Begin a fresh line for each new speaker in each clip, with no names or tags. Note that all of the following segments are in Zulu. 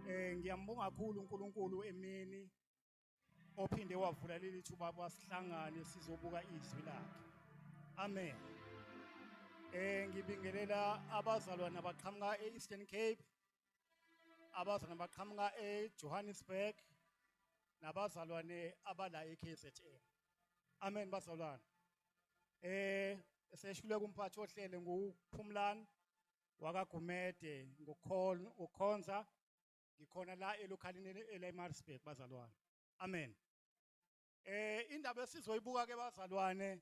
Eh ngiyambonga kakhulu uNkulunkulu emini ophinde wavula leli thuba basihlangane sizobuka izwi lakhe. Amen. Eh ngibingelela abazalwane abaqhamuka eEastern Cape abazalwane abaqhamuka eJohannesburg nabazalwane abala eKZN. Amen bazalwane. Eh eseshuleka umphathi ohlele nguPhumlani wakaGumede ngokukhonza ngikhona la elokhalini eleMarsburg bazalwane amen eh indaba esizoyibuka ke bazalwane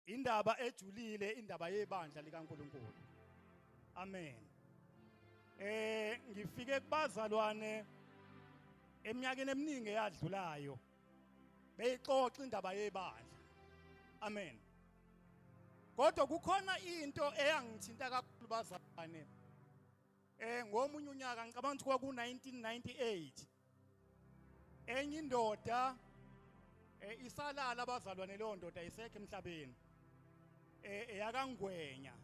indaba ejulile indaba yebandla likaNkuluNkulu amen eh ngifike kubazalwane eminyakeni eminingi eyadlulayo beyixoxa indaba yebandla amen kodwa kukhona into eyangithinta kakhulu bazalwane eh ngomunye unyaka ngicabanga ukuthi kwaku 1998 enye indoda eh isalala abazalwane leyo ndoda isekho emhlabeni eh eyakangwenya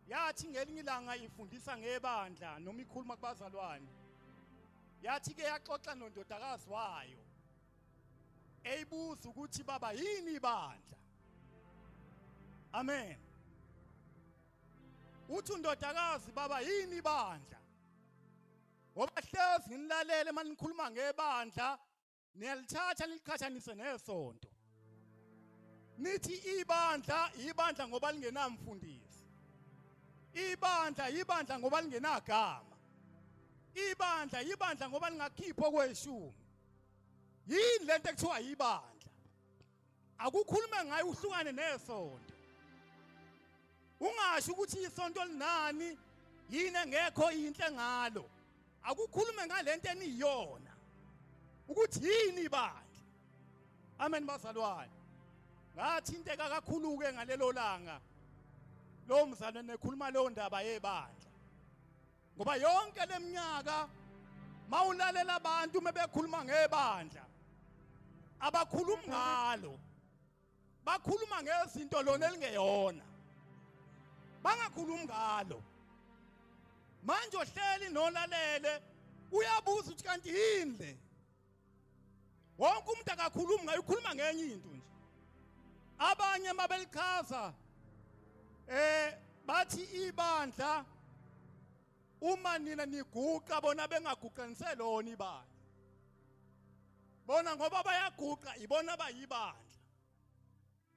Yathi ngelinye ilanga ifundisa ngebandla noma ikhuluma kubazalwane. Yathi ke yaxoxa nondodakazi wayo. Eyibuza ukuthi baba yini ibandla? Amen. Uthi undodakazi baba yini ibandla? Ngoba hlezi ngilalele manikhuluma ngebandla niyalithatha niliqhathanise nesonto nithi ibandla ibandla ngoba lingenamfundisi ibandla ibandla ngoba lingenagama ibandla ibandla ngoba lingakhipha okweshumi yini lento ekuthiwa ibandla akukhulume ngayo uhlukane nesonto ungasho ukuthi isonto linani yini engekho inhle ngalo akukhulume ngalento eniyona ukuthi yini bandla amen bazalwane ngathinteka kakhulu ke ngalelo langa lo mzalwane ekhuluma leyo ndaba yebandla ngoba yonke leminyaka mawulalela abantu mebekhuluma ngebandla abakhulumi ngalo bakhuluma ngezinto lona elingeyona bangakhulumi ngalo manje ohleli nolalele uyabuza ukuthi kanti yini le wonke umuntu akakhulumi ngayo ukhuluma ngenye into nje abanye mabelichaza eh bathi ibandla uma nina niguqa bona bengaguqanise lona ibandla bona ngoba bayaguqa ibona bayibandla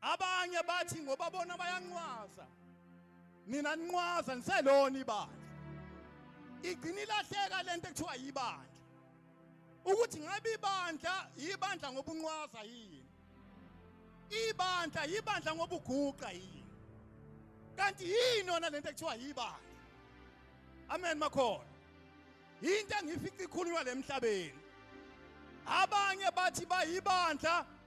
Abanye bathi ngoba bona bayanqwaza. Nina ninqwaza niselona ibandla. Igcina ilahleka lento ekuthiwa yibandla. Ukuthi ngabe ibandla yibandla ngobunqwaza yini? Ibandla yibandla ngobuguqa yini? Kanti yini yona lento ekuthiwa yibandla? Amen makhona. Into engifica ikhulunywa lemhlabeni. Abanye bathi bayibandla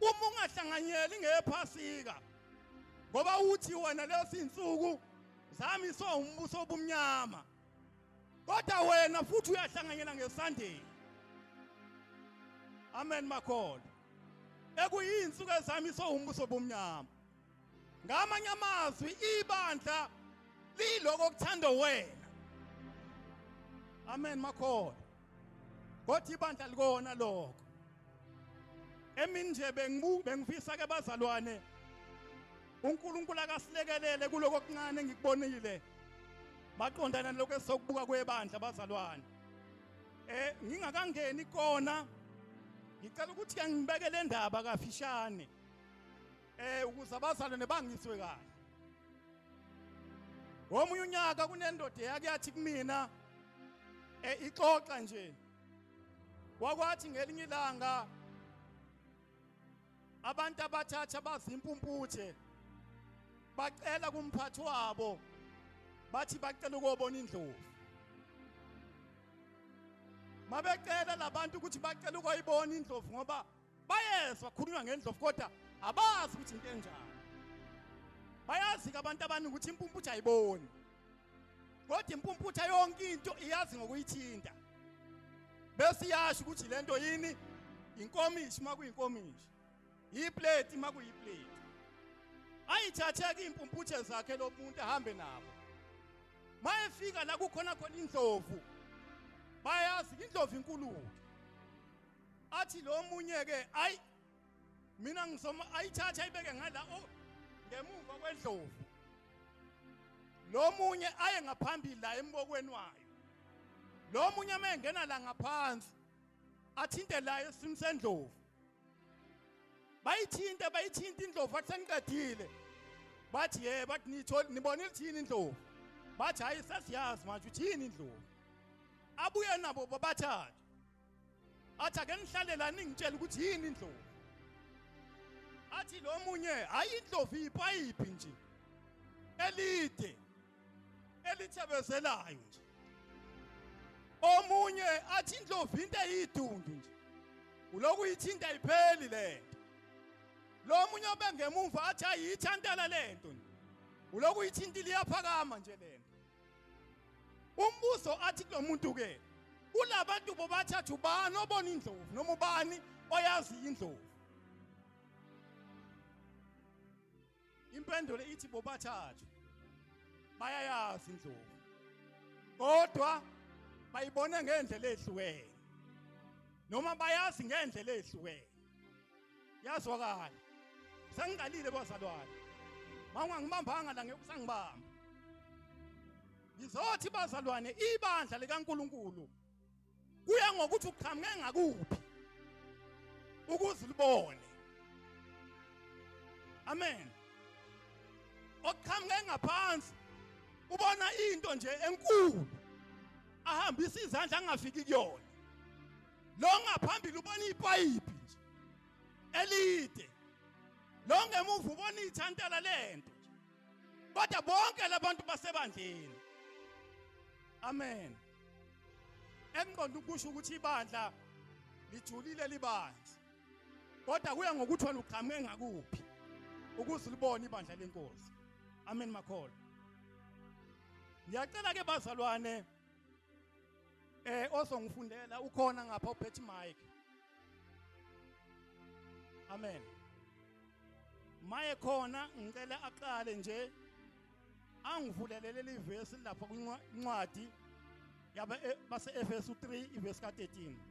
uma ungahlanganyeli ngephasika ngoba uthi wena lezi insuku zami so umbuso obumnyama kodwa wena futhi uyahlanganyela ngesunday amen makholo ekuyinsuku ezami so umbuso obumnyama ngamanye amazwi ibandla liloko okuthanda wena amen makhona kodwa ibandla likona lokho emini nje bengifisa ke bazalwane uNkulunkulu akasilekelele kuloko okuncane engikubonile maqondana lokho esokubuka kwebandla bazalwane eh ngingakangeni kona ngicela ukuthi angibeke le ndaba kafishane eh ukuze abazalwane bangiswe kahle ngomunye unyaka kunendoda eyake yathi kumina eh ixoxa nje wakwathi ngelinye ilanga abantu abathatha bazimpumputhe bacela kumphathi wabo bathi bacela ukobona indlovu mabecela labantu ukuthi bacela ukoyibona indlovu ngoba bayezwa khulunywa ngendlovu kodwa abazi ukuthi into enjani bayazi ke abantu abaningi ukuthi impumputha ayiboni kodwa impumputha yonke into iyazi ngokuyithinta bese iyasho ukuthi le nto yini inkomishi uma kuyinkomishi yipleti uma kuyipleti ayithatheke iy'mpumputhe zakhe lo muntu ahambe nabo uma efika la kukhona khona indlovu bayazi indlovu inkuluke athi lo munye ke ayi mina ngizoma ayithatha ayibeke ngala o oh, ngemuva kwendlovu lo munye aye ngaphambili la embokweni wayo lo munye uma engena la ngaphansi athinte la esim sendlovu bayithinte bayithinte indlovu athi sengiqedile bathi ye bathi nitholi nibona ilithini indlovu bathi hayi sesiyazi manje uthini indlovu abuye nabo babathathe athi ake ngihlale la ningitshela ukuthi yini indlovu athi lo munye hayi indlovu ipayipi nje elide elithebezelayo nje omunye athi indlovu into eyidundu nje uloku ithinta ipheli lento lo munye obengemumva athi ayithantala lento nje uloku ithinta liyaphakama nje lento umbuzo athi kulomuntu ke ulabantu bobathathu bani obona indlovu noma ubani oyazi indlovu impendulo ithi bobathathu bayayazi indlovu kodwa bayibona ngendlela ehlukene noma bayazi ngendlela ehlukene yazwakala sengiqalile bazalwane mawungangibambanga la ngeke usangibamba ngizothi bazalwane ibandla likaNkuluNkulu kuya ngokuthi uqhamuke ngakuphi ukuze libone amen oqhamuke ngaphansi ubona into nje enkulu ahambisa izandla angafiki kuyona lo ngaphambili ubona ipayipi nje elide lo ngemuva ubona ithantela lento nje kodwa bonke labantu basebandleni amen engqondo ukusho ukuthi ibandla lijulile libandla kodwa kuya ngokuthi wena uqhamuke ngakuphi ukuze ulibone ibandla lenkosi amen makholo ngiyacela ke bazalwane eh ozongifundela ukhona ngapha uphethe mic amen maye khona ngicela aqale nje angivulelele livesi lapha kwincwadi yaba e, base Efesu 3 ivesi ka 13 Thank you.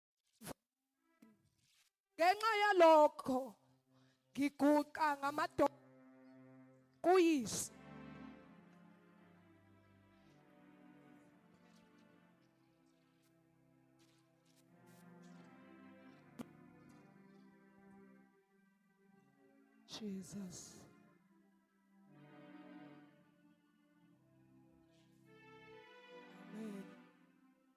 ngenxa yalokho ngiguqa ngamadoda kuyise Jesus.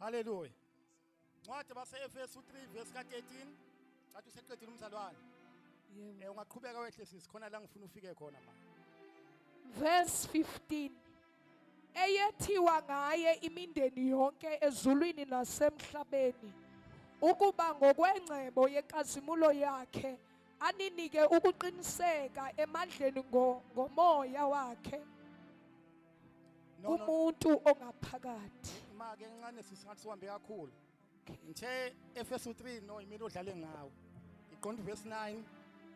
Haleluya. Ncwadi base-Efesu 3 verse ka-13 cathi useqedile umzalwane. Yebo. Eh
ungaqhubeka wehle sisi
khona la ngifuna ufike khona manje. Verse
15 eyethiwa ngaye imindeni yonke ezulwini nasemhlabeni ukuba ngokwengcebo yenkazimulo yakhe aninike ukuqiniseka emandleni ngo, ngomoya wakhe kumuntu ongaphakathi imake encane
sisathi sihambe kakhulu ngithe efesu 3 no imina odlale ngawo iqonda verse 9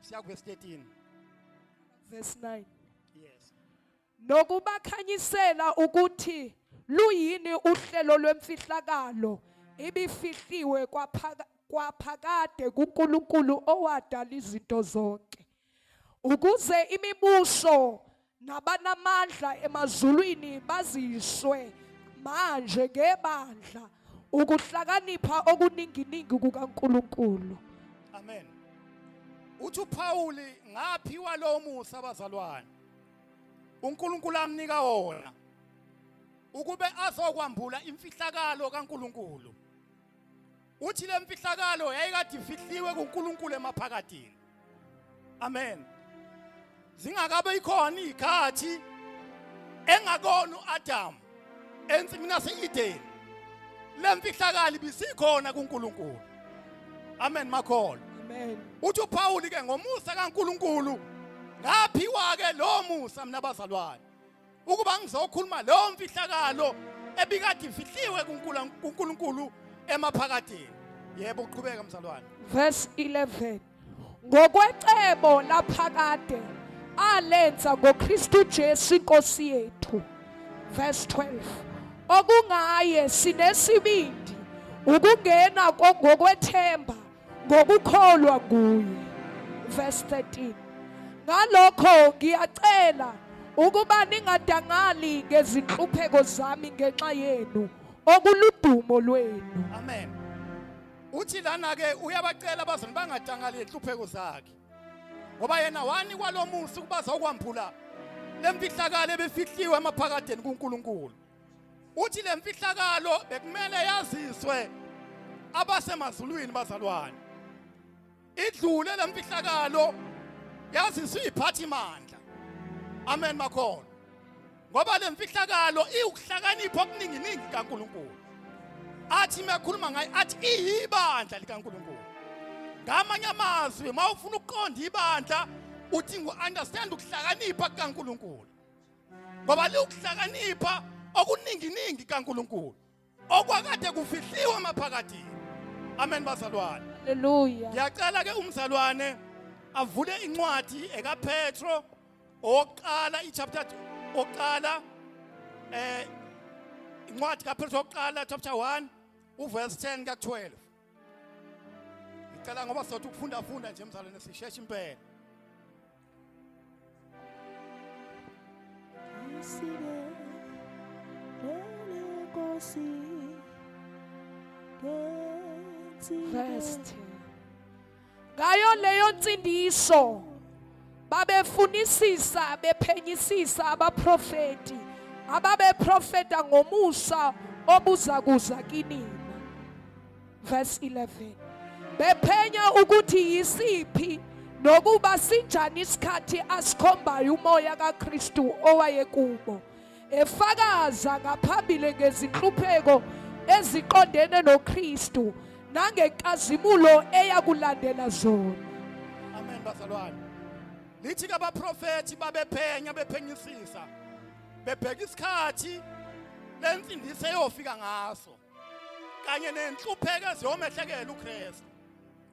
siya verse 13 verse 9
yes
nokubakhanyisela
ukuthi luyini uhlelo lwemfihlakalo ibifihliwe kwaphakade kuNkulunkulu owadala izinto zonke ukuze imibuso nabanamandla emazulwini baziswe manje ngebandla ukuhlakanipha okuninginingi kukaNkuluNkulu amen
uthi uPawuli ngaphiwa lo musa abazalwane uNkulunkulu amnika wona ukube azokwambula imfihlakalo kaNkuluNkulu uthi le mfihlakalo yayikade ifihliwe kuNkulunkulu emaphakadini amen zingakabe ikhona izikhathi engakona uAdam ensimini yaseEden lemfihlakali bisikhona kuNkulunkulu amen makholo amen uthi
uPaul ke
ngomusa kaNkulunkulu ngaphiwa ke lo musa mina bazalwane ukuba ngizokhuluma leyo mfihlakalo ebikade imfihliwe kuNkulunkulu emaphakathini yebo uqhubeka mzalwane verse
11 ngokwecebo laphakade alenza ngoKristu Jesu inkosi yethu verse 12 okungaye sinesibindi ukungena ngokwethemba ngokukholwa kuye verse 13 ngalokho ngiyacela ukuba ningadangali ngezinhlupheko zami ngenxa yenu okuludumo lwenu amen
uthi lana ke uyabacela abazali bangadangali inhlupheko zakhe ngoba yena wani kwalomusa ukuba zokwambula lemfihlakalo ebefihliwe emaphakadeni kuNkulunkulu Uthi le mfihlakalo bekumele yaziswe abasemazulwini bazalwane. Idlule le mfihlakalo yaziswe iphathi mandla. Amen makhona. Ngoba le mfihlakalo iwukuhlakanipha okuningi ningi kaNkuluNkulu. Athi mekhuluma ngayo athi iyibandla likaNkuluNkulu. Ngamanye amazwi uma ufuna ukuqonda ibandla uthi ngu understand ukuhlakanipha kukaNkuluNkulu. ngoba liwukuhlakanipha okuninginingi kaNkuluNkulu okwakade kufihliwe maphakathi amen bazalwane haleluya ngiyacela
ke
umzalwane avule incwadi ekaPetro oqala ichapter oqala eh incwadi kaPetro oqala chapter 1 uverse 10 ka12 ngicela ngoba sothi ukufunda funda nje mzalwane sisheshe impela Isibe
Lele Nkosi Ngenzi First ngayo leyo nsindiso babefunisisa bephenyisisa abaprofeti ababeprofeta ngomusa obuza kuza kinina verse 11 bephenya ukuthi yisiphi nokuba sinjani isikhathi asikhombayo umoya kaKristu owayekubo efakaza ngaphambili ngezinhlupheko eziqondene noKristu nangenkazimulo eyakulandela zona amen
bazalwane lithi ke abaprofethi babephenya bephenyisisa bebheka isikhathi lensindiso eyofika ngaso kanye nenhlupheko eziyomehlekela uKristu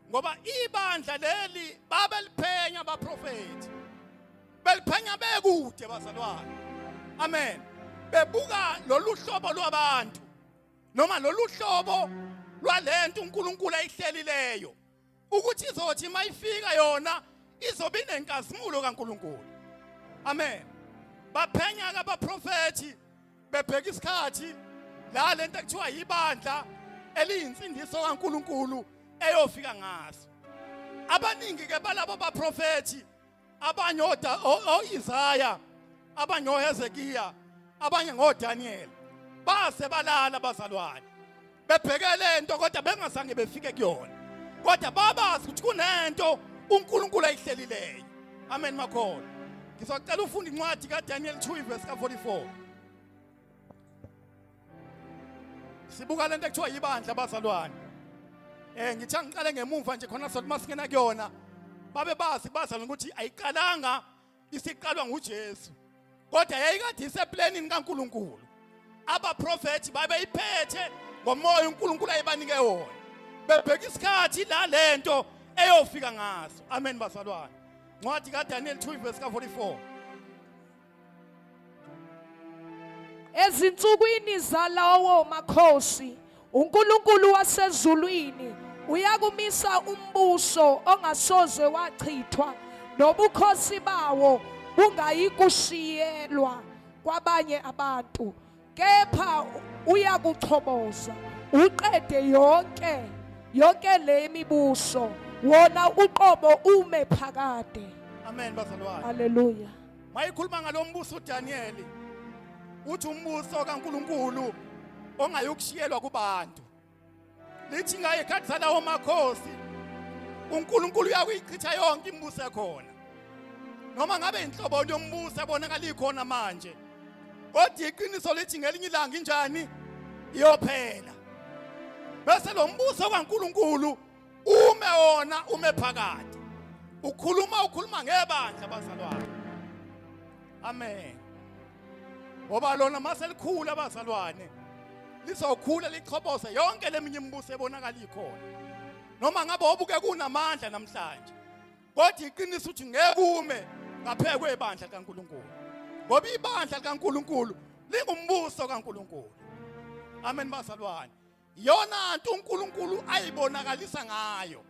ngoba ibandla leli babeliphenya abaprofethi beliphenya bekude bazalwane amen bebuka lolu hlobo lwabantu noma lolu hlobo lwalento uNkulunkulu ayihlelileyo ukuthi izothi mayifika yona izobe inenkazimulo kaNkulunkulu amen baphenya ke abaprofethi bebheka isikhathi la lento ekuthiwa yibandla eliyinsindiso kaNkuluNkulu eyofika ngaso abaningi ke balabo baprofethi abanye o-isaya abanye ohezekiya abanye ngodaniyeli base balala abazalwane bebhekele into kodwa bengazange befike kuyona kodwa babazi ukuthi kunento uNkulunkulu ayihlelileyo amen makhona ngizocela ufunde incwadi kaDaniel 2 verse ka 44 sibuka lento ekuthiwa yibandla abazalwane eh ngithe ngiqale ngemuva nje khona sothi masingena kuyona babe bazi bazalwane ukuthi ayiqalanga isiqalwa nguJesu kodwa yayikade iseplanini kaNkuluNkulu abaprofeti babeyiphethe ngomoya uNkulunkulu ayebanike wona bebheka isikhathi la lento eyofika ngaso amen bazalwane ncwadi kaDaniel 2 verse ka 44
Ezinsukwini zalawo makhosi uNkulunkulu wasezulwini uyakumisa umbuso ongasoze wachithwa nobukhosi bawo bungayikushiyelwa kwabanye abantu. kepha uyakuchoboza uqede yonke yonke le mibuso wona uqobo ume phakade amen bazalwane
haleluya
mayikhuluma
ngalombuso uDaniyeli uthi umbuso kaNkuluNkulu ongayokushiyelwa kubantu lithi ngaye khathi salawo makhosi uNkulunkulu uyakuyichitha yonke imibuso ekhona noma ngabe inhlobo yombuso ebonakala ikhona manje kodwa iqiniso lithi ngelinye ilanga injani iyophela bese lo mbuso kaNkuluNkulu ume wona ume phakathi ukhuluma ukhuluma ngebandla bazalwane amen ngoba lona mase likhula abazalwane lizokhula lichobose yonke leminye imibuso ebonakala ikhona noma ngabe obuke kunamandla namhlanje kodwa iqiniso ukuthi ngeke ume ngaphe kwebandla kaNkuluNkulu ngoba ibandla likaNkuluNkulu lingumbuso kaNkuluNkulu amen bazalwane yona nto uNkulunkulu ayibonakalisa ngayo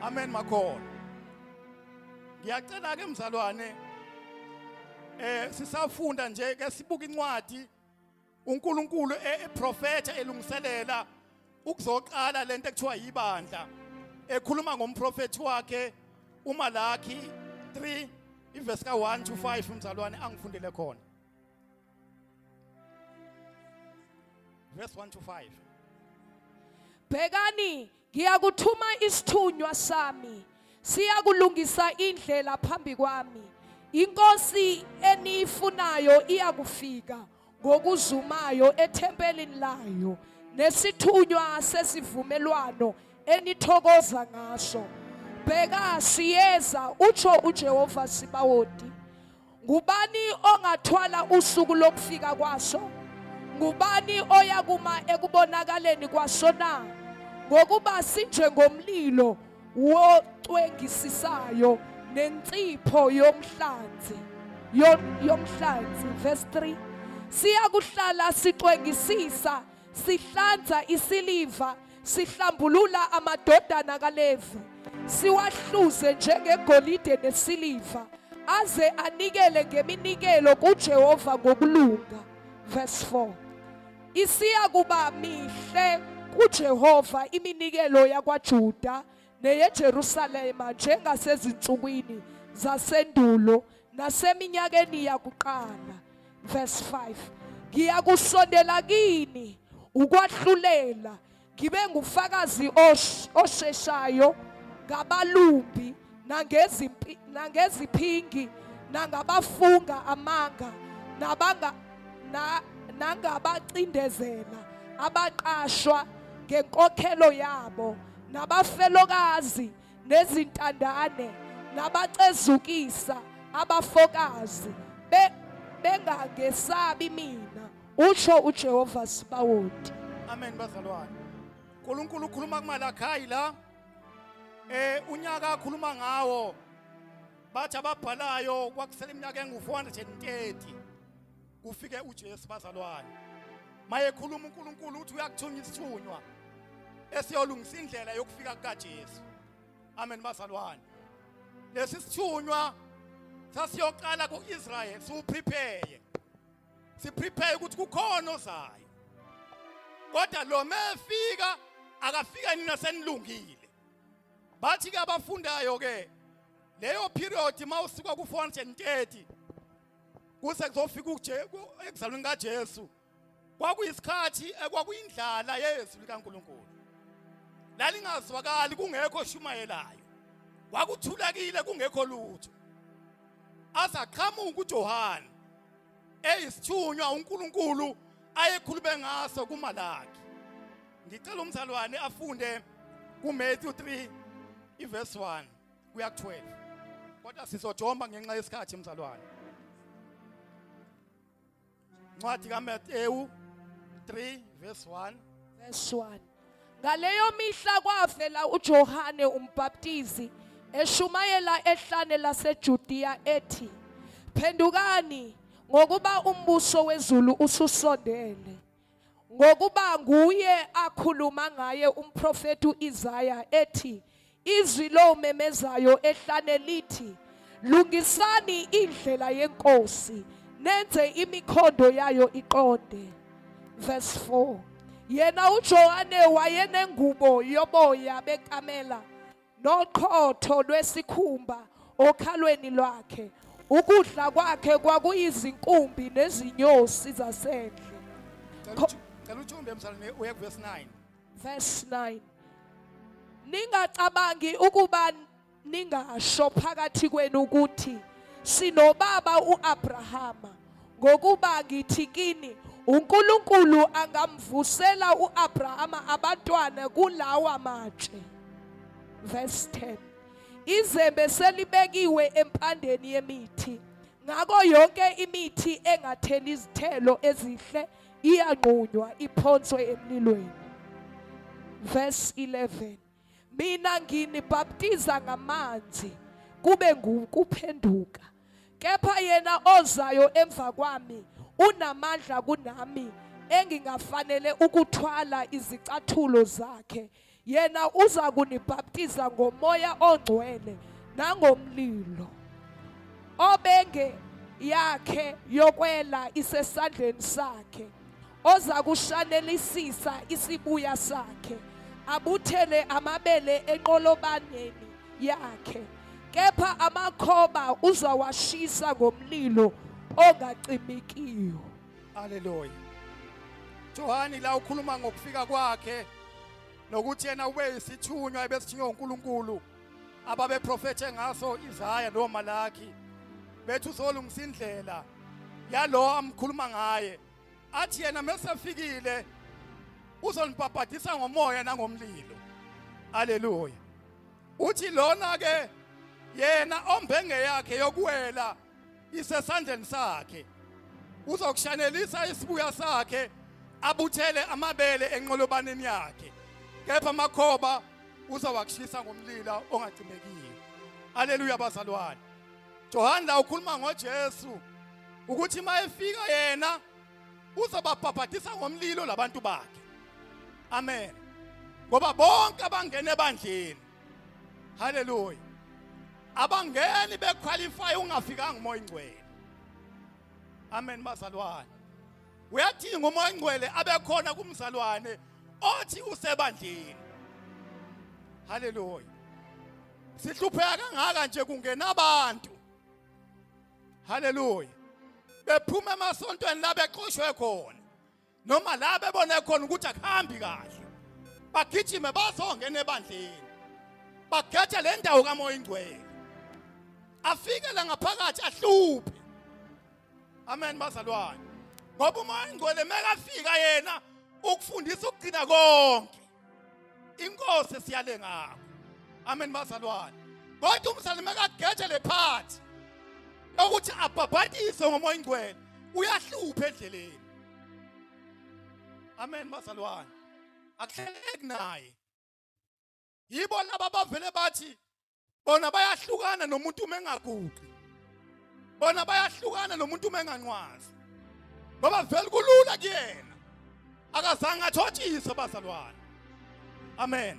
amen makhona ngiyacela ke mzalwane eh sisafunda nje ke sibuka incwadi uNkulunkulu e-, eprofetha elungiselela ukuzoqala lento ekuthiwa yibandla ekhuluma ngomprofethi wakhe uMalaki 3 ivesi ka1 to 5 umzalwane angifundele khona verse 1 to 5 bhekani
ngiyakuthuma isithunywa sami siyakulungisa indlela phambi kwami inkosi eniyifunayo iyakufika ngokuzumayo ethempelini layo nesithunywa sesivumelwano enithokoza ngaso bheka siyeza utsho ujehova sibawoti ngubani ongathwala usuku lokufika kwaso ngubani oya kuma ekubonakaleni kwaso na ngokuba sinjengomlilo wocwengisisayo nensipho yomhlanzi yomhlanzi verse 3 siyakuhlala sicwengisisa Sihlanza isiliva, sihlambulula amadodana kaLevi, siwahluze njengegolide nesiliva, aze anikele ngeminikelo kuJehova ngokulunga. Verse 4. Isiya kuba mihle kuJehova iminikelo yakwaJuda neyeJerusalema njengasezinsukwini zasendulo naseminyakeni yakuqala verse 5 ngiyakusondela kini ukwahlulela ngibe ngufakazi osheshayo ngabalumbi nangezimpi nangeziphingi nangabafunga amanga nabanga nangabacindezela abaqashwa ngenkokhelo yabo nabafelokazi nezintandane ngabacezukisa abafokazi bengangesabi mina usho uJehova Sibawoti amen bazalwane
uNkulunkulu ukhuluma kumalakhayi la eh unyaka akhuluma ngawo bathi ababhalayo kwakusela iminyaka engu-430 kufike uJesu bazalwane mayekhuluma uNkulunkulu uthi uyakuthunya isithunywa esiyolungisa indlela yokufika kukaJesu amen bazalwane lesi sithunywa sasiyoqala kuIsrael siwuprepare siprepare ukuthi kukhona ozayo kodwa lo mefika akafika nina senilungile bathi ke abafundayo ke leyo period mawusuka ku 430 kuze kuzofika uJeku ekuzalweni kaJesu kwakuyisikhathi ekwakuyindlala yezwi likaNkuluNkulu lalingazwakali kungekho oshumayelayo kwakuthulekile kungekho lutho azaqhamuka uJohane eyisithunywa uNkulunkulu ayekhulume ngaso kumalaki ngicela umzalwane afunde kuMatthew 3 iverse 1 kuya 12 kodwa sizojomba ngenxa yesikhathi mzalwane ncwadi kaMateyu 3 verse 1 verse
1 ngaleyo mihla kwavela uJohane umbaptizi eshumayela ehlane laseJudiya ethi phendukani ngokuba umbuso wezulu ususondele ngokuba nguye akhuluma ngaye umprofeti uIsaya ethi izwi lomemezayo ehlane lithi lungisani indlela yenkosi nenze imikhondo yayo iqonde verse 4 yena uJohane wayenengubo yoboya bekamela noqhotho lwesikhumba okhalweni lwakhe ukudla kwakhe kwakuyizinkumbi nezinyosi zasendle
cela uthumbe emsalini uye kuverse 9 verse 9
ningacabangi ukuba ningasho phakathi kwenu ukuthi sinobaba uAbrahama Ngokuba ngithi kini, uNkulunkulu angamvusela uAbrahama abantwana kulawa matshe. Verse 10. Izembe selibekiwe empandeni yemithi. Ngakho yonke imithi engatheli izithelo ezihle iyanqunywa iphonswe emlilweni. Verse 11. mina nginibhaptiza ngamanzi kube ngukuphenduka kepha yena ozayo emva kwami unamandla kunami engingafanele ukuthwala izicathulo zakhe yena uza kunibhaptiza ngomoya ongcwele nangomlilo obenge yakhe yokwela isesandleni sakhe oza kushanelisisa isibuya sakhe abuthele amabele enqolobaneni yakhe kepha amakhoba uzawashisa ngomlilo ongacimikiyo
haleluya johani la ukhuluma ngokufika kwakhe nokuthi yena ube isithunywa ebesithunywa unkulunkulu ababeprofethe ngaso izaya nomalaki bethi uzolungisa indlela yalowo amkhuluma ngaye athi yena mesefikile uzonibhabhadisa ngomoya nangomlilo haleluya uthi lona ke yena ombenge yakhe yokuwela isesandleni sakhe uzokushanelisa isibuya sakhe abuthele amabele enqolobaneni yakhe kepha amakhoba uzawakushisa ngomlilo ongacimekile haleluya bazalwane Johane la ukhuluma ngoJesu ukuthi uma efika yena uzobabhabhadisa ngomlilo labantu bakhe amen ngoba bonke abangena ebandleni haleluya abangeni bequalify ungafikanga umoya ingcwele amen bazalwane uyadinga umoya ingcwele abekhona kumzalwane othi usebandleni haleluya sihlupheka kangaka nje kungena abantu haleluya bephuma emasontweni la beqoshwe khona noma la bebone khona ukuthi akuhambi kahle bagijime bazongena ebandleni bakhethe le ndawo kamoya ingcwele afike la ngaphakathi ahluphe amen bazalwane ngoba umoya ingcwele mekafika yena ukufundisa ukugcina konke inkosi esiyale ngakho amen bazalwane kodwa umzalwane makageje le phathi ukuthi abhabhadiswe ngomoya ingcwele uyahlupha endleleni amen bazalwane akuhleleki naye yibo laba bavele bathi bona bayahlukana nomuntu uma engaguqi bona bayahlukana nomuntu uma enganqwazi ngoba vele kulula kuyena akazange athotshise bazalwane amen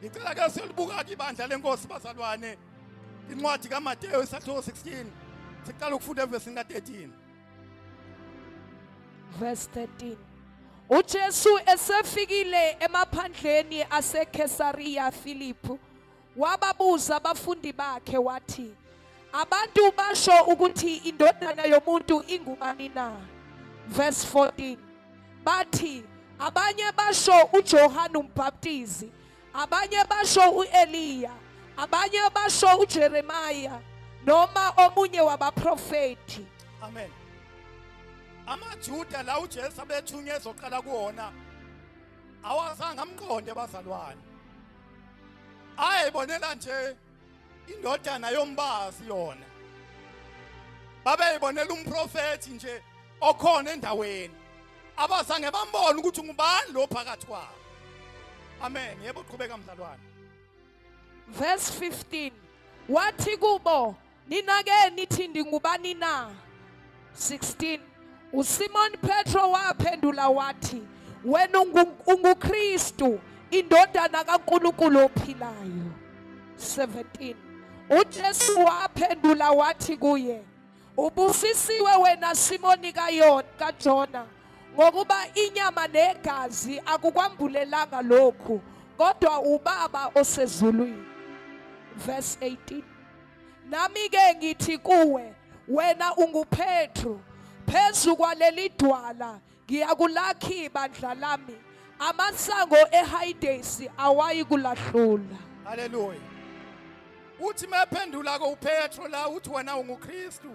ngicela ke siyolibuka ke ibandla lenkosi bazalwane incwadi kaMateyu isahluko 16 siqala ukufunda evesini ka-13
verse 13 uJesu esefikile emaphandleni aseKesariya Philippi wababuza abafundi bakhe wathi abantu basho ukuthi indodana yomuntu ingubani na verse 14 bathi abanye basho uJohane umbhaptizi abanye basho uEliya abanye basho uJeremiah noma omunye wabaprofeti amen
amajuda la uJesu abethunyezwa oqala kuona awazange amqonde bazalwane hayi bonela nje indodana yombazi yona babeyibonela umprofethi nje okhona endaweni abazange bambone ukuthi ngubani lo phakathi kwabo amen yebo qhubeka mzalwane
verse 15 wathi kubo Nina ke nithi ndingubani na? 16 uSimon Petro waphendula wathi wena unguKristu indodana kaNkulunkulu ophilayo 17 uJesu waphendula wathi kuye ubusisiwe wena Simoni kayona kaJona ngokuba inyama negazi akukwambulelanga lokhu kodwa ubaba osezulwini verse 18 Nami ke ngithi kuwe wena unguPetru phezu kwaleli dwala ngiyakulakhi ibandla lami amasango ehayidesi awayi kulahlula haleluya
uthi mephendula ko uPetru la uthi wena unguKristu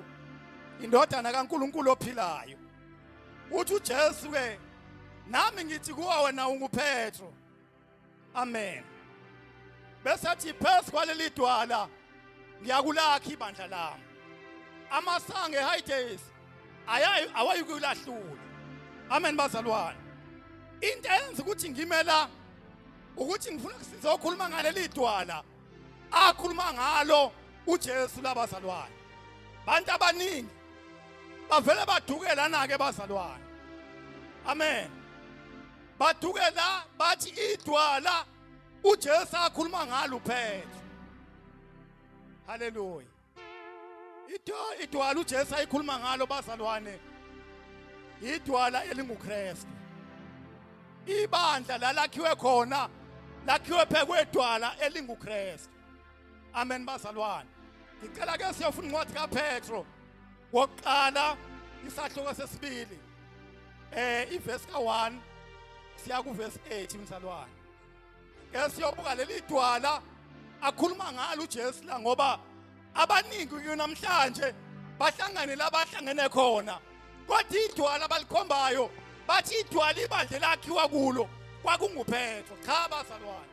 indodana kaNkuluNkulu ophilayo uthi uJesu ke nami ngithi kuwe wena unguPetru amen bese athi phezu kwaleli dwala ngiyakulakha ibandla lami amasange high days awayikulahlula amen bazalwane into eyenza ukuthi ngimela ukuthi ngifuna kusiza okhuluma ngaleli dwala akhuluma ngalo uJesu labazalwane bantu abaningi bavele badukelana ke bazalwane amen bathuke la bathi idwala uJesu akhuluma ngalo uphela haleluya idwala uJesu ayikhuluma ngalo bazalwane idwala elinguKristu ibandla lalakhiwe khona lakhiwe phekwedwala elinguKristu amen bazalwane ngicela ke siyofuna incwadi kaPetro kokuqala isahluko sesibili eh iverse ka1 siya kuverse 8 mzalwane ke siyobuka leli dwala akhuluma ngalo uJesu la ngoba abaningi kunamhlanje bahlangane labahlangene khona kodwa idwala balikhombayo bathi idwala ibandla lakhiwa kulo kwakunguPetro cha bazalwane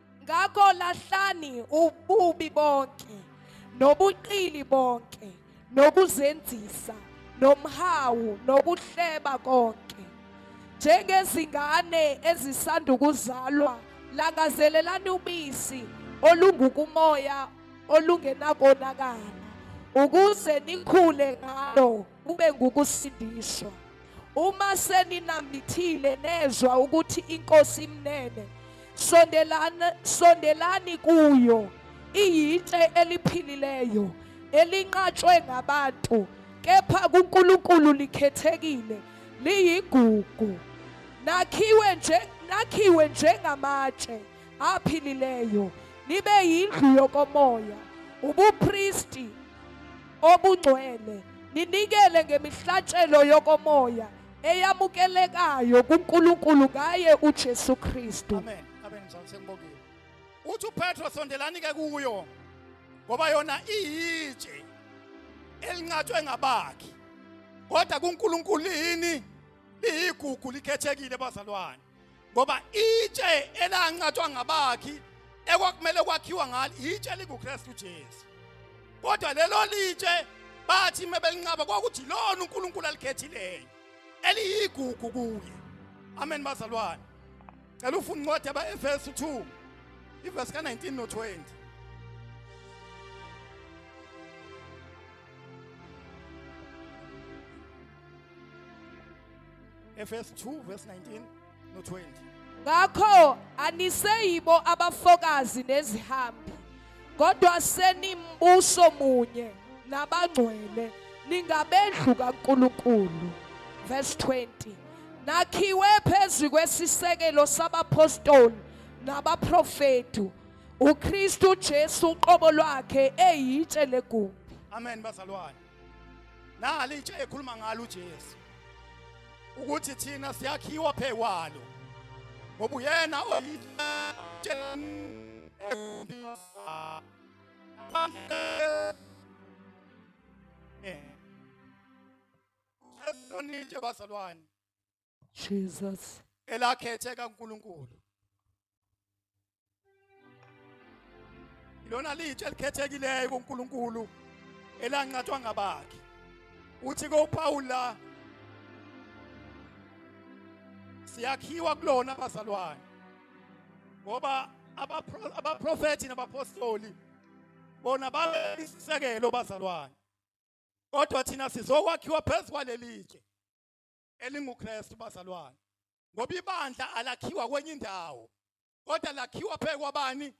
ngakho lahlani ububi bonke nobuqili bonke nokuzenzisa nomhawu nokuhleba konke njengezingane ezisandukuzalwa langazelelani ubisi olungukumoya olungenakonakala ukuze nikhule ngalo kube ngukusindiswa. Uma seninambithile nezwa ukuthi inkosi imnene, sondelani sondelani kuyo. Iyitshe eliphilileyo elinqatshwe ngabantu kepha kuNkulunkulu likhethekile liyigugu nakhiwe nje nakhiwe njengamatshe aphilileyo nibe yindlu yokomoya ubupristi obungcwele ninikele ngemihlatshelo yokomoya eyamukelekayo kuNkulunkulu ngaye uJesu Kristu amen amen mzansi
sengibongile uthi uPetro sondelani ke kuyo ngoba yona iyitshe elinqathwe ngabakhi kodwa kuNkulunkulu yini liyigugu likhethekile bazalwane ngoba itshe elancathwa ngabakhi ekwakumele kwakhiwa ngalo itshe likuKristu Jesu kodwa lelo litshe bathi mebelinqaba kwakuthi lona uNkulunkulu alikhethileyo eliyigugu kuye amen bazalwane cela ufuna incwadi yabaefesu 2 ivesi ka-19 no-20 Efesu 2 verse 19 no 20. Ngakho
aniseyibo abafokazi nezihambi kodwa senimbuso munye nabangcwele ningabendlu kaNkulunkulu. Verse 20. Nakhiwe phezulu kwesisekelo sabapostoli nabaprofetu uKristu Jesu uqobo lwakhe eyitshe legumbi. Amen bazalwane.
nali intsha ekhuluma ngalo uJesu ukuthi thina siyakhiwa phekwalo ngoba uyena Nje bazalwane Jesus.
elakhethe
kaNkuluNkulu lona litshe elikhethekileyo kuNkuluNkulu elanqathwa ngabakhe uthi koPawula siyakhiwa kulona bazalwane ngoba abaprofethi nabapostoli bona babesisekelo bazalwane kodwa thina sizokwakhiwa phezu kwalelitshe elinguKristu bazalwane ngoba ibandla alakhiwa kwenye indawo kodwa lakhiwa phe kwabani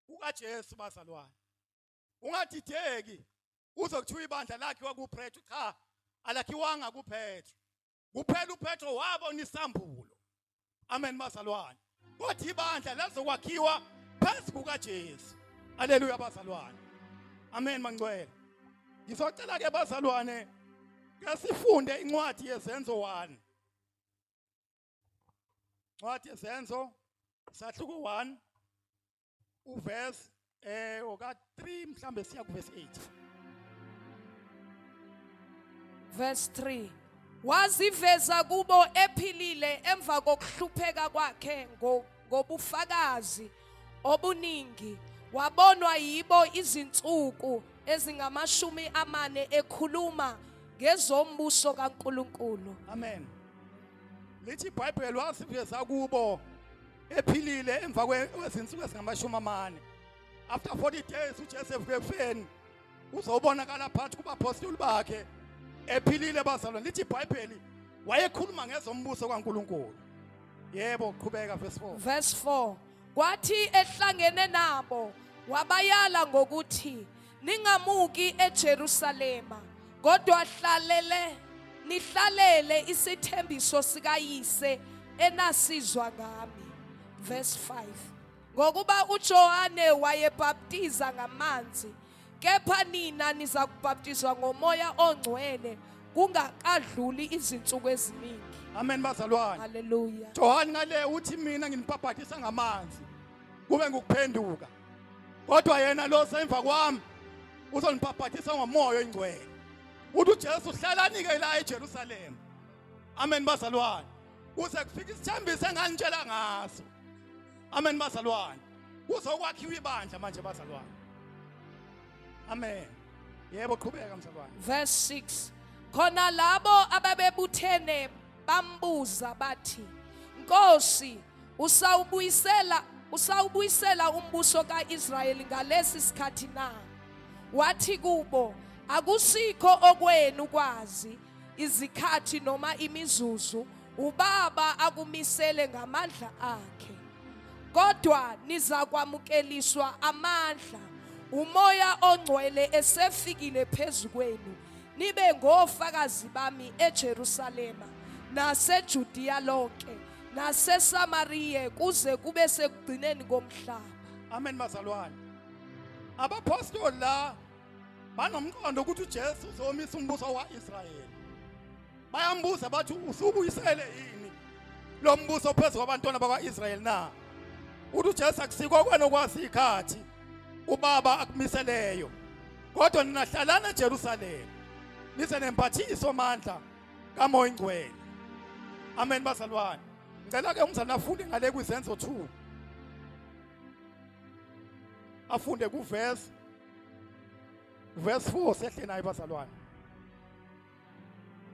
kukaJesu bazalwane ungadideki uzokuthiwa ibandla lakhe kwakuPetru cha alakhiwanga kuPetru kuphela uPetru wabona isambulo amen bazalwane kodwa ibandla lazokwakhiwa phezu kukaJesu aleluya bazalwane amen mangcwele ngizocela ke bazalwane ke sifunde incwadi yezenzo 1 incwadi yezenzo sahluko 1 uverse eh oka 3 mhlambe siya ku verse 8
verse 3 waziveza kubo ephilile emva kokuhlupheka kwakhe ngobufakazi obuningi wabonwa yibo izinsuku ezingamashumi amane ekhuluma ngezombuso kaNkuluNkulu amen
lithi ibhayibheli wasiveza kubo ephilile emva kwezinsuku ezingamashumi amane after 40 days uJesu evuke ekufeni uzobonakala phakathi kubapostoli bakhe ephilile bazalwane lithi iBhayibheli wayekhuluma ngezombuso kaNkuluNkulu yebo qhubeka verse 4 verse 4
kwathi ehlangene nabo wabayala ngokuthi ningamuki eJerusalema kodwa hlalele nihlalele isithembiso sikayise enasizwa ngami verse 5 ngokuba uJohane wayebhaptiza ngamanzi kepha nina niza kubhaptizwa ngomoya ongcwele kungakadluli izinsuku eziningi amen bazalwane
haleluya Johane
ngale uthi
mina nginibhabhatisa ngamanzi kube ngukuphenduka kodwa yena lo semva kwami uzonibhabhathisa ngomoya oyingcwele uthi uJesu hlalanike la eJerusalem amen bazalwane kuze kufike isithembiso enganitshela ngaso amen bazalwane kuzokwakhiwa ibandla manje bazalwane amen yebo qhubeka mzalwane verse
6 khona labo ababebuthene bambuza bathi nkosi Usawubuyisela usawubuyisela umbuso kaIsrayeli ngalesi sikhathi na? Wathi kubo, akusikho okwenu kwazi izikhathi noma imizuzu ubaba akumisele ngamandla akhe kodwa nizakwamukeliswa amandla umoya ongcwele esefikile phezu kwenu nibe ngofakazi bami eJerusalema naseJudiya lonke naseSamariya kuze kube sekugcineni komhlaba amen bazalwane
abaphostoli la banomqondo ukuthi uJesu uzomisa umbuso waIsrayeli bayambuza bathi usubuyisele yini lo mbuso phezu kwabantwana bakwaIsrayeli na uthi uJesu akusikho kwena kwazi ikhathi ubaba akumiseleyo kodwa nina hlalana eJerusalema nize nemphathiso mandla kamoya ingcwele amen bazalwane ngicela ke umzali afunde ngale kwizenzo 2 afunde kuverse verse 4 sehle naye bazalwane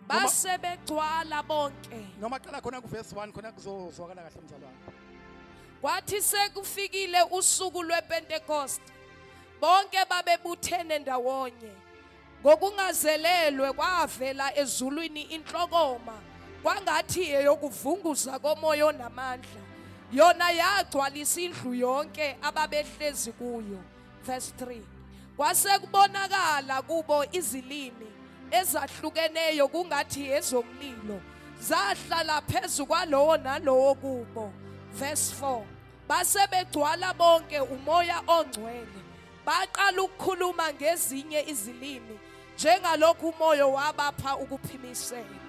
base begcwala bonke noma qala khona kuverse
1 khona kuzozwakala kahle mzalwane kwathi
sekufikile usuku lwepentekoste bonke babebuthene ndawonye Ngokungazelelwe kwavela ezulwini inhlokoma kwangathi eyokuvunguza komoya onamandla. Yona yagcwalisa indlu yonke ababehlezi kuyo. Verse 3. Kwase kubonakala kubo izilimi ezahlukeneyo kungathi ezomlilo zahlala phezu kwalowo nalowo kubo. Verse 4. Base begcwala bonke umoya ongcwele Baqala ukukhuluma ngezinye izilimi njengalokhu umoya wabapha ukuphimisela.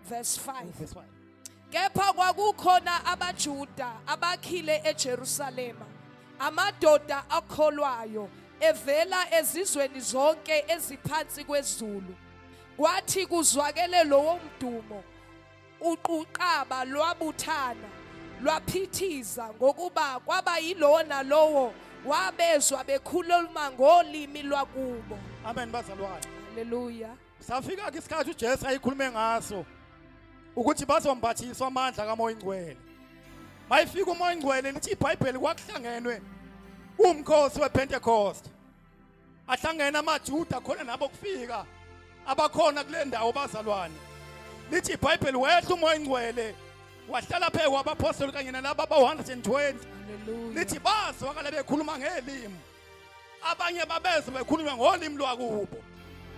Verse 5. Verse 5. Kepha kwakukhona abaJuda abakhile eJerusalema amadoda akholwayo evela ezizweni zonke eziphansi kwezulu kwathi kuzwakele lowo mdumo Uquqaba lwabuthana lwaphithiza ngokuba kwaba yilona lowo wabezwa bekhuluma ngolimi lwakubo. Amen bazalwane.
Haleluya.
Safika ke
isikhathi uJesu ayikhulume ngaso ukuthi bazombathiswa amandla kaMoya Ingcwele. Mayifika uMoya Ingcwele lithi iBhayibheli kwakuhlangenwe umkhosi wePentecost. ahlangene amaJuda khona nabo kufika abakhona kule ndawo bazalwane lithi ibhayibheli wehla umoya ingcwele wahlala phezu kwabaphostoli kanye nalaba abawu-120 lithi bazwakala bekhuluma ngelimi abanye babezwe bekhulunywa ngolimi lwakubo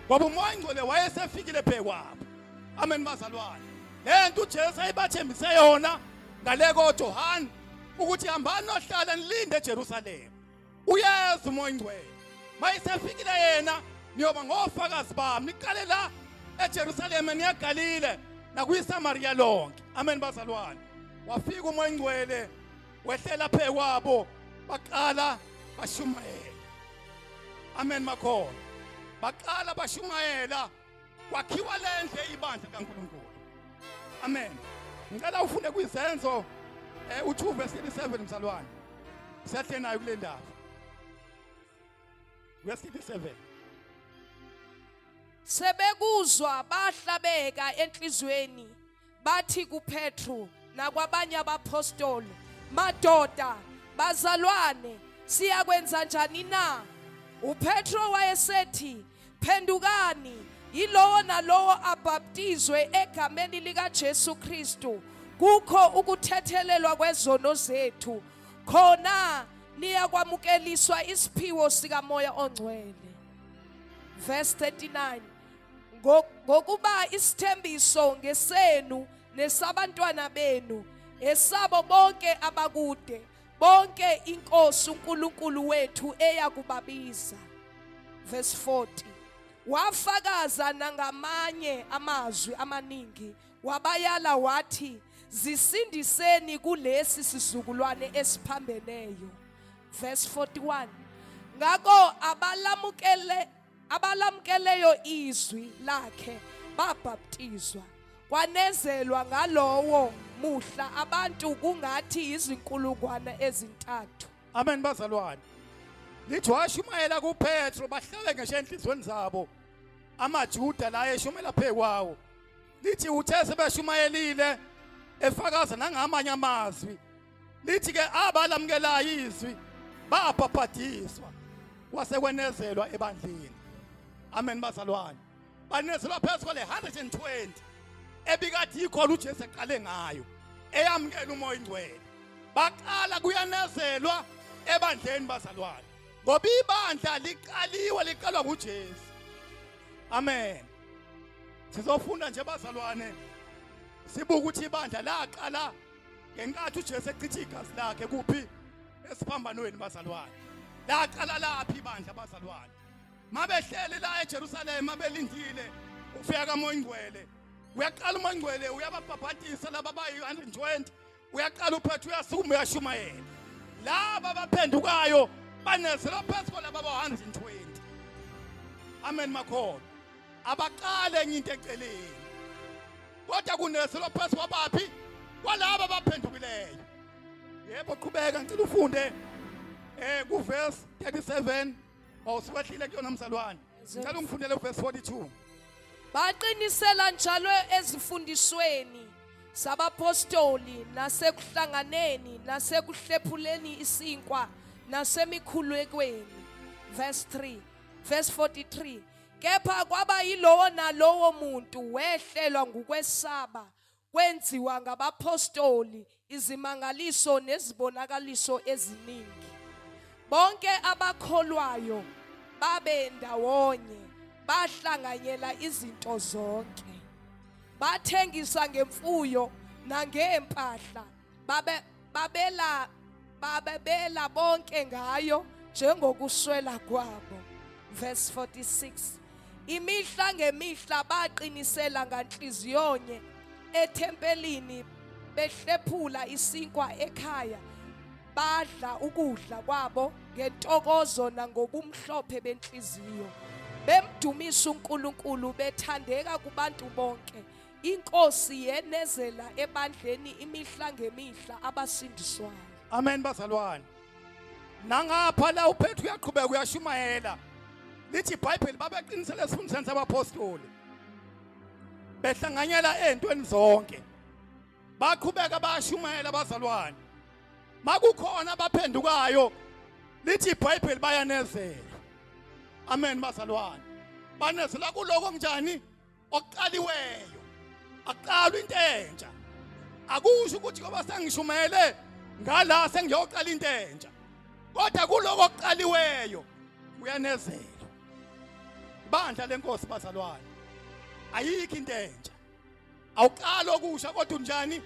ngoba umoya ingcwele wayesefikile phezu kwabo amen bazalwane le nto ujesu ayibathembise yona ngale kojohane ukuthi hambani nohlala nilinde ejerusalema uyazi umoya ingcwele mayisefikile yena niyoba ngofakazi bami niqale la eJerusalema niyaGalile nakuyiSamaria lonke amen bazalwane wafika umoya ingcwele wehlela phe kwabo baqala bashumayela amen makhona baqala bashumayela kwakhiwa le ndle ibandla kaNkulunkulu amen ngicela ufunde kwizenzo eh, u2 verse 37 mzalwane siyahle nayo kule ndaba verse 37
sebekuzwa bahlabeka enhlizweni bathi kuPetru nakwabanye abapostoli madoda bazalwane siyakwenza njani na uPetro wayesethi phendukani yilowo nalowo abhaptizwe egameni likaJesu Kristu kukho ukuthethelelwa kwezono zethu khona niyakwamukeliswa isiphiwo sikamoya ongcwele verse 39 ngokuba isithembiso ngesenu nesabantwana benu esabo bonke abakude bonke inkosi uNkulunkulu wethu eyakubabiza verse 40 wafakaza nangamanye amazwi amaningi wabayala wathi zisindiseni kulesi sizukulwane esiphambeneyo verse 41 ngakho abalamukele abalamkeleyo izwi lakhe babhaptizwa kwanezelwa ngalowo muhla abantu kungathi izinkulungwane ezintathu amen bazalwane
lithi washumayela kupetro bahlale ngisho enhliziyweni zabo amajuda la eshumela phezu kwawo lithi uthe sebeshumayelile efakaza nangamanye amazwi lithi ke abalamukelayo izwi babhabhadiswa kwasekwenezelwa ebandleni amen bazalwane banezelwa phezu kwale 120 ebikade yikhona uJesu eqale ngayo eyamukela umoya ingcwele baqala kuyanezelwa ebandleni bazalwane ngoba ibandla liqaliwe liqalwa nguJesu amen sizofunda nje bazalwane sibuka ukuthi ibandla laqala ngenkathi uJesu echitha igazi lakhe kuphi esiphambanweni bazalwane laqala laphi ibandla bazalwane mabehleli la eJerusalema belindile ufika kamoya ingcwele uyaqala umoya ingcwele uyababhabhatisa laba bayi-120 uyaqala uphethe uyasukuma uyashumayela laba baphendukayo banezelwa phezu kwalaba ba-120 amen makhona abaqale enye into eceleni kodwa kunezelo phezu kwabaphi kwalaba abaphendukileyo yebo qhubeka ngicela ufunde eh kuverse 37 awusiwehlile kuyona mzalwane ngicela ungifundele uverse 42 baqinisela
njalo ezifundisweni sabapostoli nasekuhlanganeni nasekuhlephuleni isinkwa nasemikhulekweni verse 3 verse 43 Kepha kwaba yilowo nalowo muntu wehlelwa ngukwesaba kwenziwa ngabaphostoli izimangaliso nezibonakaliso eziningi. Bonke abakholwayo babe ndawonye bahlanganyela izinto zonke. Bathengisa ngemfuyo nangempahla babe babela babebela bonke ngayo njengokuswela kwabo verse 46 imihla ngemihla baqinisela nganhliziyonye ethempelini behlephula isinkwa ekhaya badla ukudla kwabo ngentokozo nangobumhlophe benhliziyo bemdumisa uNkulunkulu bethandeka kubantu bonke Inkosi yenezela ebandleni imihla ngemihla abasindiswayo. Amen
bazalwane. Nangapha la uphethe uyaqhubeka uyashumayela. Lithi iBhayibheli babeqinisele esifundisweni sabapostoli. Behlanganyela ezintweni zonke. Baqhubeka bayashumayela bazalwane. Makukhona abaphendukayo lithi iBhayibheli bayanezela. Amen bazalwane. Banezela kuloko kunjani? okuqaliweyo aqalwe into entsha akusho ukuthi ngoba sengishumayele ngala sengiyoqala into entsha kodwa kuloko okuqaliweyo kuyanezela bandla lenkosi bazalwane ayikho into entsha awuqali okusha kodwa unjani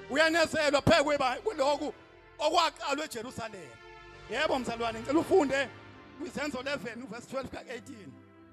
uyanezelwa phekwe kuloku okwaqalwa eJerusalema yebo mzalwane ngicela ufunde kwizenzo 11 verse 12 ka 18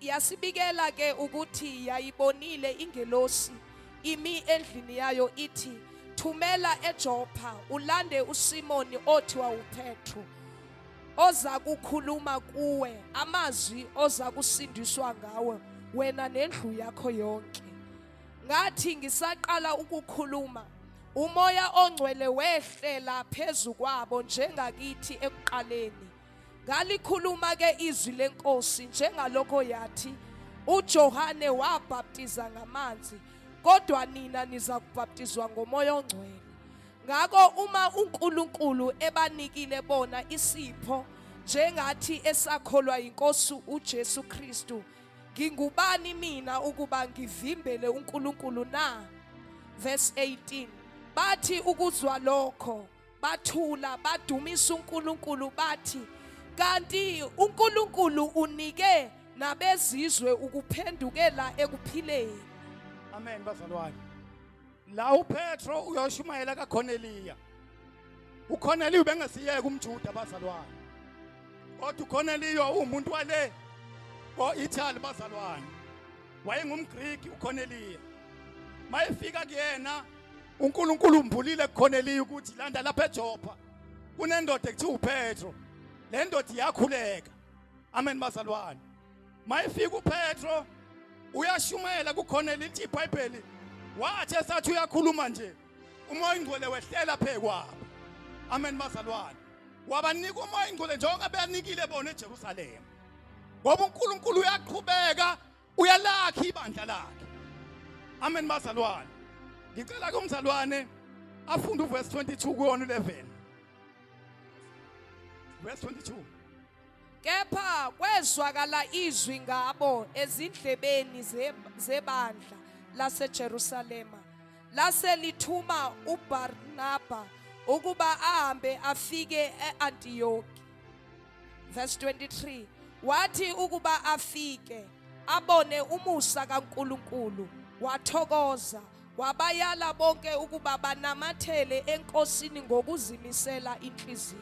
Yasibikela ke ukuthi yayibonile ingelosi imi endlini yayo ithi thumela eJopha ulande uSimoni othi wawuPetru oza kukhuluma kuwe amazwi oza kusindiswa ngawe wena nendlu yakho yonke ngathi ngisaqala ukukhuluma umoya ongcwele wehlela phezu kwabo njengakithi ekuqaleni Ngalikhuluma ke izwi lenkosi njengalokho yathi uJohane wabhaptiza ngamanzi kodwa nina niza kubhaptizwa ngomoya ongcwele. Ngakho uma uNkulunkulu ebanikile bona isipho njengathi esakholwa inkosi uJesu Kristu ngingubani mina ukuba ngivimbele uNkulunkulu na? Verse 18 bathi ukuzwa lokho bathula badumisa uNkulunkulu bathi kanti uNkulunkulu unike nabezizwe ukuphendukela ekuphileni amen
bazalwane la uPetro uyoshumayela kaKhoneliya uKhoneliya ubengesiyeke umJuda bazalwane kodwa uKhoneliya uwumuntu wale ko-Italy bazalwane wayengumGriki uKhoneliya mayefika kuyena uNkulunkulu umbulile khona eliyi ukuthi landa lapha eJopa kunendoda ekuthiwa uPetro le ndoda iyakhuleka amen bazalwane mayifika uPetro uyashumela kukhona elithi iBhayibheli wathi esathi uyakhuluma nje umoya ingcwele wehlela phekwabo amen bazalwane wabanika umoya ingcwele njengoba beyanikile bona eJerusalema ngoba uNkulunkulu uyaqhubeka uyalakha ibandla lakhe amen bazalwane ngicela ke umzalwane afunde uverse 22 kuyona 11 verse 22 kepha
kwezwakala izwi ngabo ezindlebeni zebandla laseJerusalema lase lithuma uBarnaba ukuba ahambe afike eAntiyoki verse 23 wathi ukuba afike abone umusa kaNkuluNkulu wathokoza wabayala bonke ukuba banamathele enkosini ngokuzimisela inhliziyo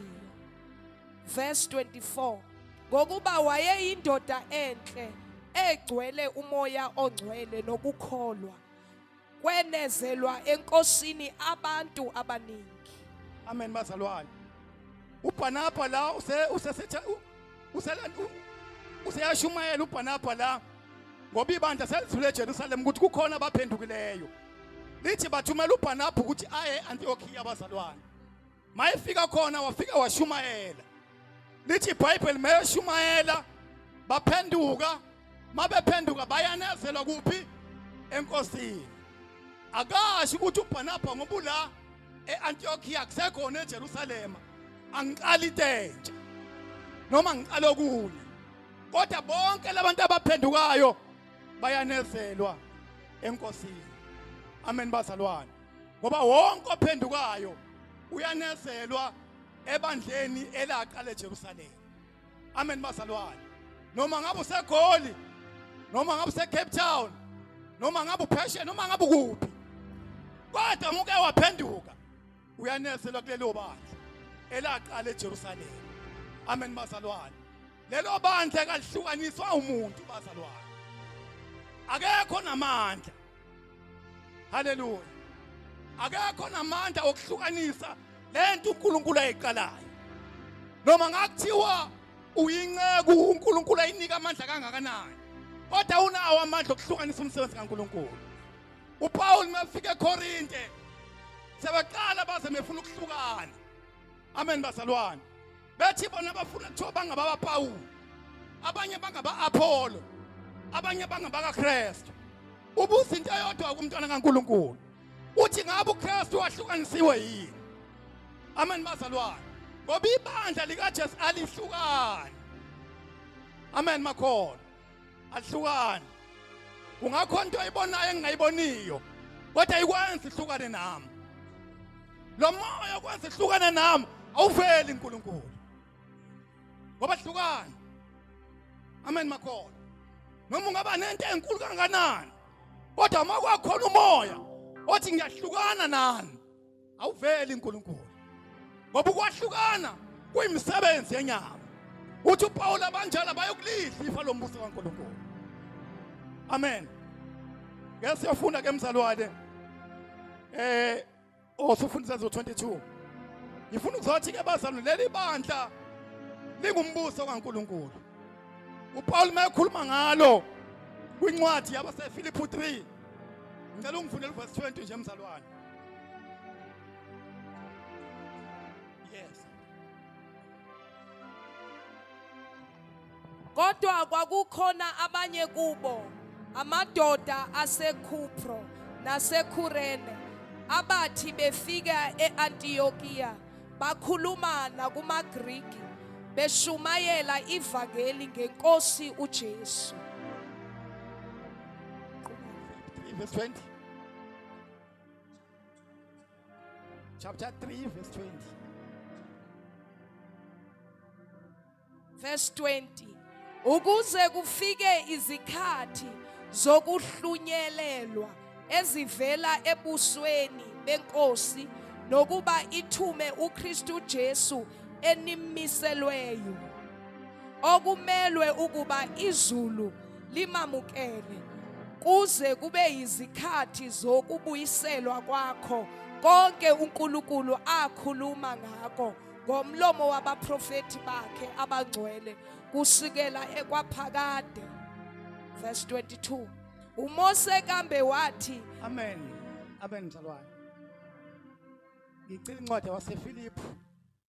verse 24 ngokuba wayeyindoda enhle egcwele umoya ongcwele nokukholwa kwenezelwa enkosini abantu abaningi amen
bazalwane ubhanabha la usesetha useyashumayela ubhanabha la ngoba ibandla selithule ejerusalem ukuthi kukhona abaphendukileyo lithi bathumela ubhanabha ukuthi aye e-antiokiya abazalwane mayefika khona wafika washumayela lithi ibhayibheli mayeshumayela baphenduka mabephenduka bayanezelwa kuphi enkosini akasho ukuthi ubhanabha ngoba ula e-antiokiya kusekhona ejerusalema angiqali itentsha noma ngiqala okunye kodwa bonke labantu abaphendukayo bayanezelwa enkosini amen bazalwane ngoba wonke ophendukayo uyanezelwa ebandleni elaqala eJerusalema amen bazalwane noma ngabe usegoli noma ngabe useCape Town noma ngabe upheshe noma ngabe ukuphi kodwa muke waphenduka uyanezelwa kulelo bandla elaqala eJerusalema amen bazalwane lelo bandla kalihlukaniswa umuntu bazalwane akekho namandla haleluya akekho namandla okuhlukanisa lento uNkulunkulu ayiqalayo noma ngakuthiwa uyinceku uNkulunkulu ayinika amandla kangakanani kodwa unawo amandla okuhlukanisa umsebenzi kaNkulunkulu uPaul mafike eKorinte sebaqala baze mefuna ukuhlukana amen bazalwane bethi bona bafuna kuthiwa bangababapawulu abanye bangaba-apholo abanye bangabakakristu ubuza into eyodwa kumntwana kankulunkulu uthi ngabe ukristu wahlukanisiwe yini amen bazalwane ngoba ibandla likajesu alihlukani amen makhona ahlukane ungakho into ayibonayo engingayiboniyo kodwa ikwenza ihlukane nami lo moya okwenza ihlukane nami awuveli uNkulunkulu ngoba hlukana amen makhona noma ungaba nento enkulu kangakanani kodwa uma kwakhona umoya othi ngiyahlukana nani awuveli uNkulunkulu ngoba ukwahlukana kuyimisebenzi yenyama uthi uPawulu abanjalo bayokulidla ifa lombuso kaNkulunkulu amen ngeke siyofunda ke mzalwane eh osufundisa oh, zo 22 ngifuna ukuzothi ke bazalwane leli bandla lingumbuso kaNkuluNkulu uPaul mayekhuluma ngalo kwincwadi yabaseFiliphu 3 ngicela ungifundele verse 20 nje mzalwane
kodwa kwakukhona abanye kubo amadoda aseKhupro naseKhurene abathi befika eAntiyokiya bakhuluma nakumaGriki beshumayela ivangeli ngeNkosi uJesu.
Verse 20. Chapter 3, verse 20. Verse
20. Ukuze kufike izikhathi zokuhlunyelelwa ezivela ebusweni benkosi nokuba ithume uKristu Jesu enimiselweyo okumelwe ukuba izulu limamukele kuze kube yizikhathi zokubuyiselwa kwakho konke uNkulunkulu akhuluma ngako ngomlomo wabaprofeti bakhe abangcwele kusukela ekwaphakade verse 22 uMose kambe wathi amen
amen mzalwane ngicela incwadi waseFilipi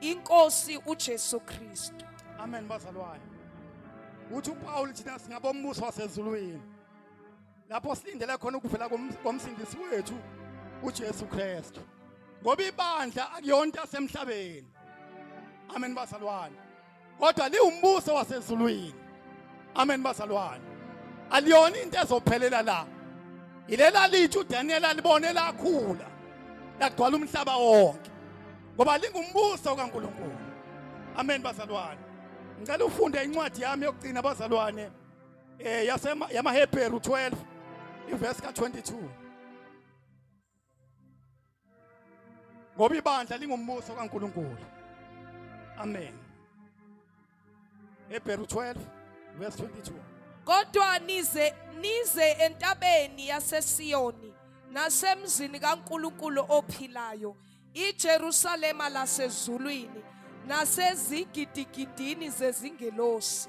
inkosi uJesu Kristu amen bazalwane
uthi uPaul thina singabombuso wasezulwini lapho silindele khona ukuvela komsindisi wethu uJesu Kristu ngoba ibandla akuyona into yasemhlabeni amen bazalwane kodwa liwumbuso wasezulwini amen bazalwane aliyona into ezophelela la ilela lithi uDaniel alibone lakhula lagcwala umhlaba wonke ngoba lingumbuso kaNkuluNkulu amen bazalwane ngicela ufunde incwadi yami yokugcina bazalwane eh yasema yamaHebheru 12 iverse ka22 ngoba ibandla lingumbuso kaNkuluNkulu amen Hebrew 12 verse 22 Kodwa
nize nize entabeni yaseSiyoni nasemzini kaNkuluNkulu ophilayo iJerusalema lasezulwini nasezigidigidini zezingelosi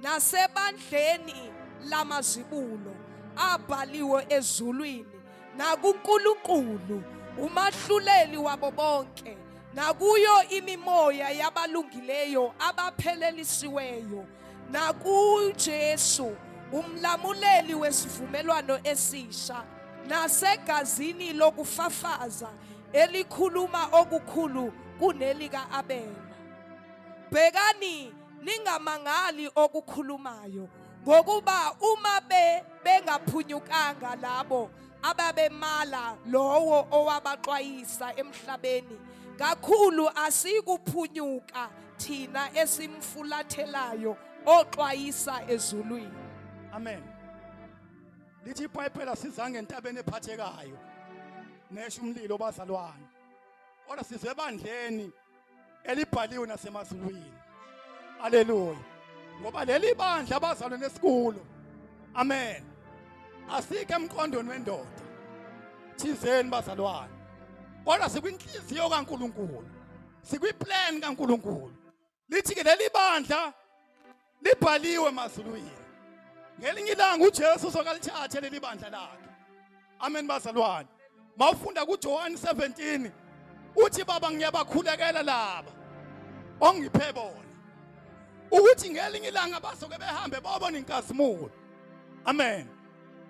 nasebandleni lamazibulo abhaliwe ezulwini nakuNkulunkulu umahluleli wabo bonke nakuyo imimoya yabalungileyo abaphelelisiweyo nakuJesu umlamuleli wesivumelwano esisha nasegazini lokufafaza elikhuluma okukhulu kunelika Abela bhekani ningamangali okukhulumayo ngokuba uma be bengaphunyukanga labo ababemala lowo owabaxwayisa emhlabeni kakhulu asikuphunyuka thina esimfulathelayo oxwayisa ezulwini amen
lithi ibhayibhela sizange entabeni ephathekayo nesho umlilo bazalwane kodwa sizwe ebandleni elibhaliwe nasemazulwini haleluya ngoba leli bandla abazalwe nesikulo amen asike emqondweni wendoda thizeni bazalwane kodwa sikwinhliziyo kaNkuluNkulu sikwiplan kaNkuluNkulu lithi ke leli bandla libhaliwe emazulwini ngelinye ilanga uJesu uzokalithathe leli bandla lakhe amen bazalwane mawufunda kuJohane 17 uthi baba ngiyabakhulekela laba ongiphe bona ukuthi ngelinye ilanga bazoke behambe babone inkazimulo amen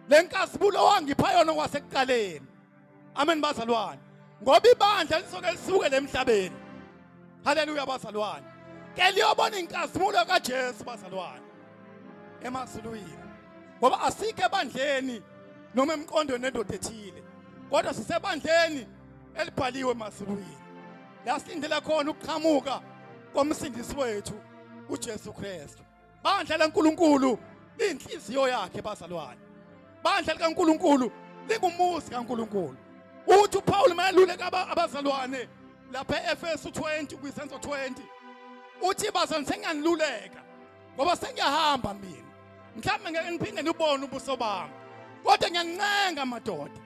lenkazimulo wangipha yona kwasekuqaleni amen bazalwane ngoba ibandla lisoke lisuke lemhlabeni haleluya bazalwane ke liyobona inkazimulo kaJesu bazalwane emazulwini ngoba asikho ebandleni noma emqondweni nendoda ethile kodwa sisebandleni elibhaliwe emazulwini la silindela khona ukuqhamuka komsindisi wethu uJesu Kristu bandla laNkulunkulu inhliziyo yakhe bazalwane bandla likaNkulunkulu lingumuzi kaNkulunkulu uthi uPaul mayeluleka abazalwane lapha eEfesu 20 kwisenzo 20 uthi bazalwane sengiyaniluleka ngoba sengiyahamba mina mhlawumbe ngeke ngiphinde nibone ubuso bami kodwa ngiyanincenga madoda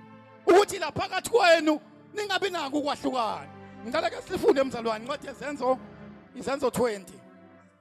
ukuthi la phakathi kwenu ningabi nako ukwahlukana ngicela ke sifunde mzalwane incwadi yezenzo izenzo 20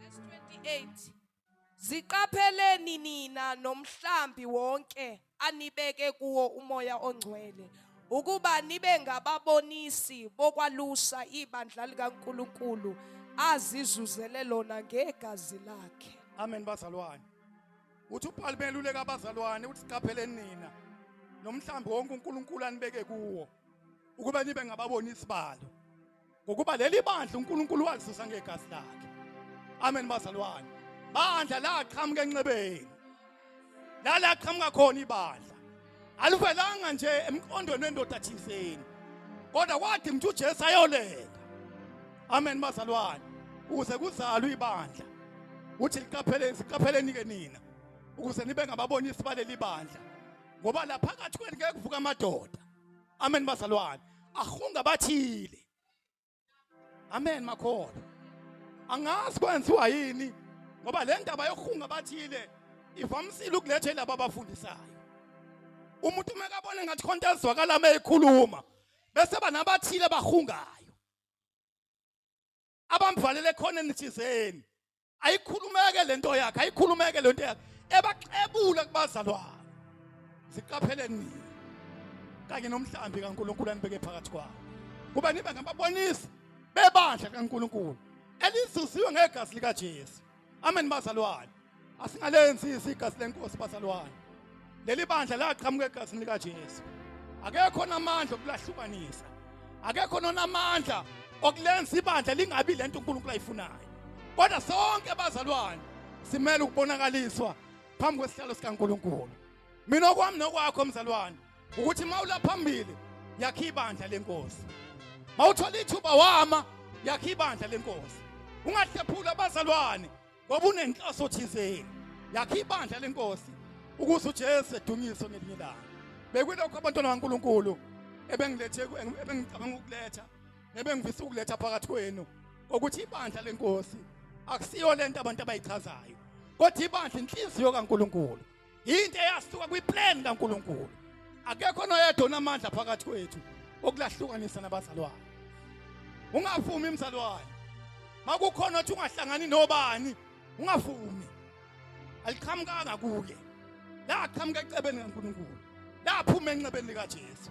Verse 28. Ziqapheleni nina nomhlambi wonke anibeke kuwo umoya ongcwele ukuba nibe ngababonisi bokwalusa ibandla likaNkuluNkulu azizuzele lona ngegazi lakhe. Amen bazalwane.
Uthi uPaul beluleka abazalwane uthi siqapheleni nina nomhlambi wonke uNkulunkulu anibeke kuwo ukuba nibe ngababonisi balo. ngokuba leli bandla uNkulunkulu walizuza ngegazi lakhe amen bazalwane bandla laqhamuka enxebeni lalaqhamuka khona ibandla alivelanga nje emqondweni wendoda thizeni kodwa kwathi mntu uJesu ayolenga amen bazalwane ukuze kuzalwe ibandla uthi liqapheleni siqapheleni ke nina ukuze nibe ngababonisi baleli bandla ngoba lapha kathi kwenu ngeke kuvuka amadoda amen bazalwane ahunga bathile amen makhona angazi kwenziwa yini ngoba le ndaba yokuhunga bathile ivamisile ukuletha laba abafundisayo umuntu uma ekabona ngathi khonto ezwakala uma ekhuluma bese banabathile bahungayo abamvalele khona enithizeni ayikhulumeke lento yakhe ayikhulumeke lento yakhe ebaxebula kubazalwane ziqapheleni nini kanye nomhlambi kaNkuluNkulu anibeke phakathi kwabo kuba nibe ngababonisi bebandla kaNkuluNkulu elizuziwe ngegazi likaJesu Amen bazalwane. Asingalenzi isiga silenkosi bazalwane. Leli bandla laqhamuka egazini lika Jesu. Akekho namandla okulahlukanisa. Akekho nonamandla okulenza ibandla lingabi lento uNkulunkulu ayifunayo. Kodwa sonke bazalwane simele ukubonakaliswa phambi kwesihlalo sikaNkulunkulu. Mina okwami nokwakho mzalwane ukuthi mawula phambili yakhe ibandla lenkosi mawuthola ithuba wama yakhe ibandla lenkosi ungahlephula abazalwane ngoba unenhloso thizeni yakhe ibandla lenkosi ukuze uJesu edunyiswe ngelinye ilanga bekulokho abantwana kaNkuluNkulu ebengilethe ebengicabanga ukuletha nebengivisa ukuletha phakathi kwenu ukuthi ibandla lenkosi akusiyo lento abantu abayichazayo kodwa ibandla inhliziyo kaNkuluNkulu yinto eyasuka kwiplan kaNkulunkulu akekho noyedwa onamandla phakathi kwethu okulahlukanisa nabazalwane ungavumi mzalwane makukhona othi ungahlangani nobani ungavumi aliqhamukanga kuye laqhamuka ecebeni kaNkulunkulu laphuma enxebeni likaJesu